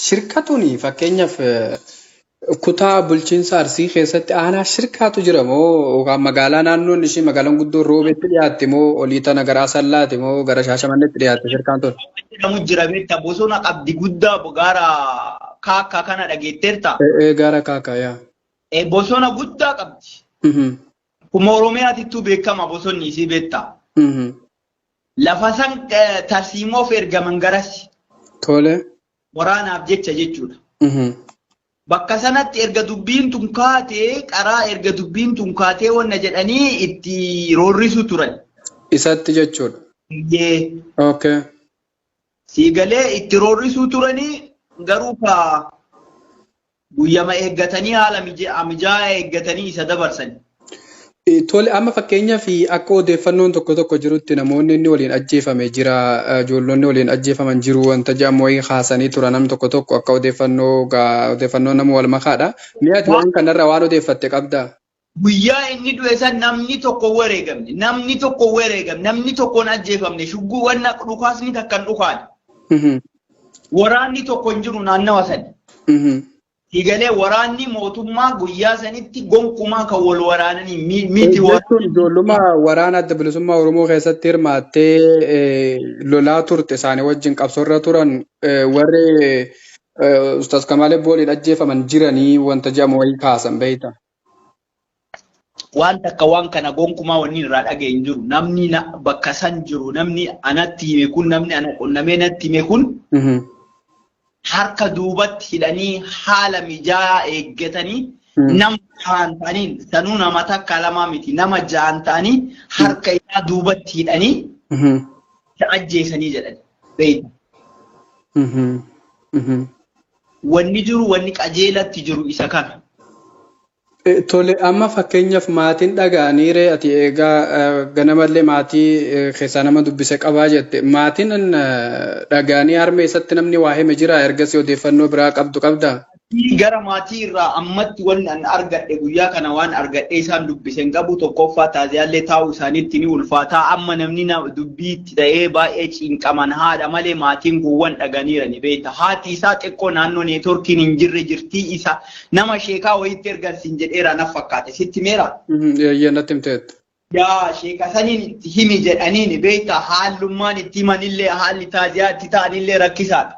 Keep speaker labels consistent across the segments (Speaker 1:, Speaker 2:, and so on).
Speaker 1: Shirka tuni fakkeenyaaf kutaa bulchiinsa Arsii keessatti aanaa shirkaatu jira moo yookaan magaalaa naannoon ishii magaalaan guddoo roobeetti dhiyaatte moo olii tana gara Asallaati moo gara Shaashamanneetti dhiyaatte shirkaan tun? jedhamu jira beekta
Speaker 2: bosona qabdi guddaa gaara kaakkaa kana dhageetteerta. Ee gaara kaakkaa
Speaker 1: yaa. E, bosona
Speaker 2: guddaa qabdi. Kuma Oromiyaatittuu beekama bosonni isii beekta. Lafasan tarsiimoof ergaman garasi. Tole.
Speaker 1: Waraanaaf
Speaker 2: jecha jechuudha. Bakka sanatti erga dubbiin tun kaatee qaraa erga dubbiin tun kaatee wanna jedhanii itti roorrisu turan. Isatti jechuudha.
Speaker 1: Iyyee. Okay.
Speaker 2: Siigalee itti roorrisuu turanii garuu ka Guyyama eeggatanii haala mijaa'aa eeggatanii isa dabarsani. Tole
Speaker 1: amma fakkeenyaaf akka odeeffannoon tokko tokko jirutti namoonni inni waliin ajjeefame jira ijoollonni waliin ajjeefaman jiru wanta jedhamu wayii kaasanii tura nam tokko tokko akka odeeffannoo odeeffannoo nama wal makaadha. Mi'aati waan kanarra waan odeeffatte qabdaa? Guyyaa inni
Speaker 2: du'e san namni tokko wareegamne, namni tokko wareegamne, namni tokkoon ajjeefamne, shugguu wanna dhukaasni takka hin dhukaane. Mhm. Waraanni tokko hin jiru naannawa sani. Mhm. Higalee waraanni mootummaa guyyaa sanitti gonkumaa kan wal waraananii mi- miti Jechuun waraanni. ijoolluma
Speaker 1: waraana adda bilisummaa Oromoo keessatti hirmaattee eh, lolaa turte isaanii wajjin qabsoorra turan eh, warri Eh, Ustaz Kamaalee booliin ajjeefaman jiranii wanta jedhamu wayii kaasan beekta. Waan
Speaker 2: takka waan kana gonkumaa wanni irraa dhaga'e hin jiru. Namni na- bakka san jiru, namni anatti hime kun, namni ana qunnamee natti hime kun Mhm. harka duubatti hidhanii haala mijaa'aa eeggatanii Mm. nama jahan ta'aniin sanuu nama takka lamaa miti nama jahan ta'anii harka isaa duubatti hidhanii Mhm. isa ajjeesanii jedhan beeyta. Wanni jiru wanni qajeelatti jiru isa kana.
Speaker 1: Tole amma fakkeenyaaf maatiin dhaga'anii ree ati eegaa ganamallee maatii keessaa nama dubbise qabaa jette maatiin dhaga'anii harmee isatti namni waa hime jira ergasii odeeffannoo biraa qabdu qabdaa? Gara maatii
Speaker 2: irraa ammatti wanni an argadhe guyyaa kana waan argadhee isaan dubbise hin qabu tokkoffaa taaziyaallee taa'uu isaaniitti ni ulfaataa amma namni dubbii itti ta'ee baay'ee cinqaman haadha malee maatiin guwwan dhaganiira ni beekta haati isaa xiqqoo naannoo neetworkiin hin jirre jirtii isa nama sheekaa wayiitti ergan siin jedheera naf fakkaate sitti meera. Eeyyee natti himteetta.
Speaker 1: Yaa sheeka
Speaker 2: saniin itti himi jedhaniin beekta haallummaan itti himanillee haalli taaziyaa itti ta'anillee rakkisaadha.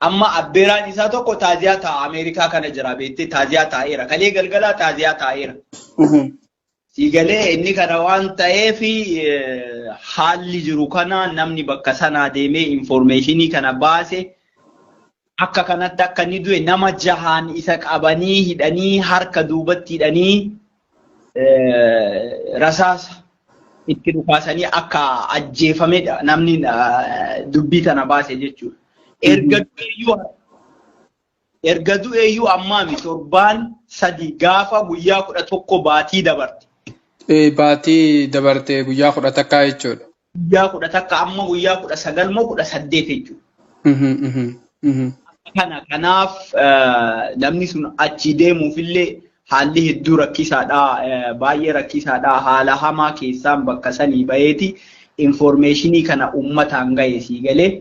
Speaker 2: Amma abbeeraan isaa tokko taaziyaa taa'a Ameerikaa kana jira beektee taaziyaa taa'eera. Kalee galgalaa taaziyaa taa'eera. Sii galee inni kana waan ta'eef haalli jiru kana namni bakka sanaa deemee infoormeeshinii kana baase akka kanatti akka inni du'e nama jahaan isa qabanii hidhanii harka duubatti hidhanii rasaasa itti dhukaasanii akka ajjeefamedha namni dubbii tana baase jechuudha. Erga du'eeyyuu erga du'eeyyuu ammaami torbaan sadi gaafa guyyaa kudha tokko baatii dabarte. Baatii
Speaker 1: dabarte guyyaa kudha takkaa jechuudha. guyyaa kudha takka
Speaker 2: amma guyyaa kudha sagal moo kudha saddeet jechuudha. Kana kanaaf namni sun achi deemuufillee haalli hedduu rakkisaadha. Baay'ee rakkisaadha. Haala hamaa keessaan bakka sanii baheeti infoormeeshinii kana uummataan gahe sii galee.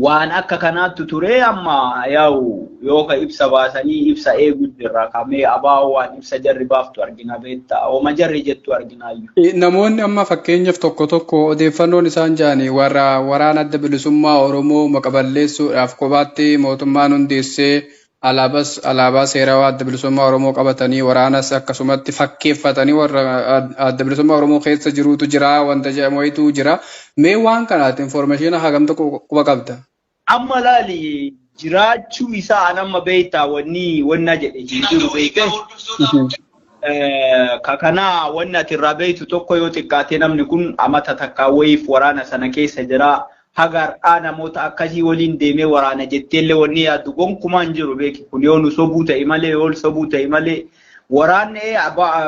Speaker 2: Waan akka kanaattu turee amma yaa'u yoo ka ibsa baasanii ibsa eeguu jirra. Ka mee abaa'oo waan ibsa jarri baaftu argina beetta. Homa jarri jettu arginaayyu. Namoonni amma
Speaker 1: fakkeenyaf tokko tokko odeeffannoon isaan ja'ani warra Waraana Adda Bilisummaa Oromoo maqa balleessuudhaaf kophaatti mootummaan hundeessee Alaabas alaabaa seerawaa Adda Bilisummaa Oromoo qabatanii waraanas akkasumatti fakkeeffatanii warra Adda Bilisummaa Oromoo keessa jiruutu jira wanta jedhamu wayitu jira. Mee waan kana ati information hagam tokko quba qabda? Amma laali
Speaker 2: jiraachuu isaa an amma beektaa wanni wanna jedhe hin jiru beekte. Ka kanaa wanni ati irraa beektu tokko yoo xiqqaate namni kun amata takkaa wayiif waraana sana keessa jira. haga har'aa namoota akkasii waliin deemee waraana jetteellee wanni yaaddu gonkumaa hin jiru beeki kun yoo nu sobuu ta'e malee yoo sobuu ta'e malee waraanni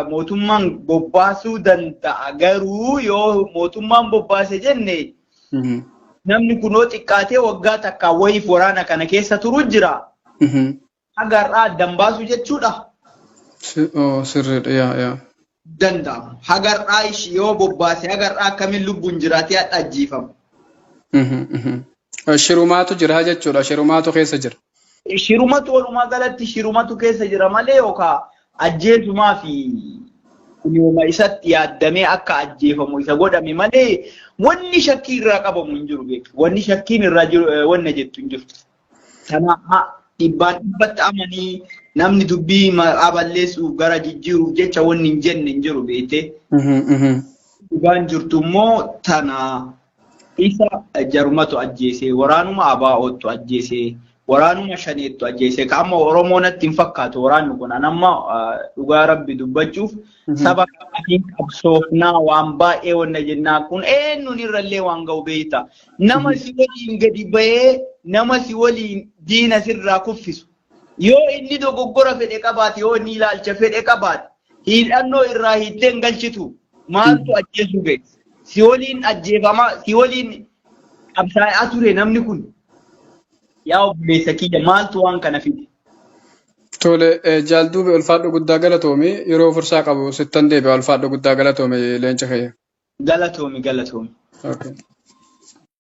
Speaker 2: mootummaan bobbaasuu danda'a garuu yoo mootummaan bobbaase jenne namni kunoo xiqqaatee waggaa takkaa wayiif waraana kana keessa turu jira. haga har'aa addan baasuu jechuudha. Si- oo,
Speaker 1: Sirriidha yaa yaa. Danda'amu.
Speaker 2: Haga har'aa ishii yoo bobbaase haga har'aa akkamiin lubbuun jiraatee hadha ajjeefamu. Mhm, mhm.
Speaker 1: Shirumaatu jira jechuudha. Shirumaatu keessa jira. Shirumatu
Speaker 2: walumaa galatti shirumatu keessa jira malee yookaan ajjeesumaa fi kunuma isatti yaaddamee akka ajjeefamu isa godhame malee wanni shakkii irraa qabamu hin jiru beeku. Wanni shakkiin irraa jiru eh, wanna jettu hin jirtu. Kana a- dhibbaan dhibbatti amanii namni dubbii maqaa balleessuuf gara jijjiiruuf jecha wanni hin jenne hin jiru beektee. Mhm, mhm. Dhugaan jirtu immoo tana isa jarumatu ajjeese, waraanuma abaa'oottu ajjeese, waraanuma shaneettu ajjeese. Ka amma Oromoo natti hin fakkaatu waraanni kun. An amma ah, dhugaa rabbi dubbachuuf Mhm. saba kanaatiin qabsoofnaa waan baay'ee wanna jennaa kun eenyuun irrallee waan ga'u beekta. Nama si waliin gadi ba'ee nama si waliin diina sirraa kuffisu. Yoo inni dogoggora fedhe qabaate yoo inni ilaalcha fedhe qabaate hidhannoo irraa hiittee hin galchitu. Maaltu ajjeesuu ga'e? Si waliin ajjeefamaa si waliin qabsaa'aa ture namni kun. Yaa obboleessa kiyya maaltu waan kana fide? Tole
Speaker 1: jaal duube ulfaadhu guddaa galatoomi yeroo fursaa qabu sittan deebi'a ulfaadhu guddaa galatoomi leenca kiyya. Galatoomi galatoomi. Okay.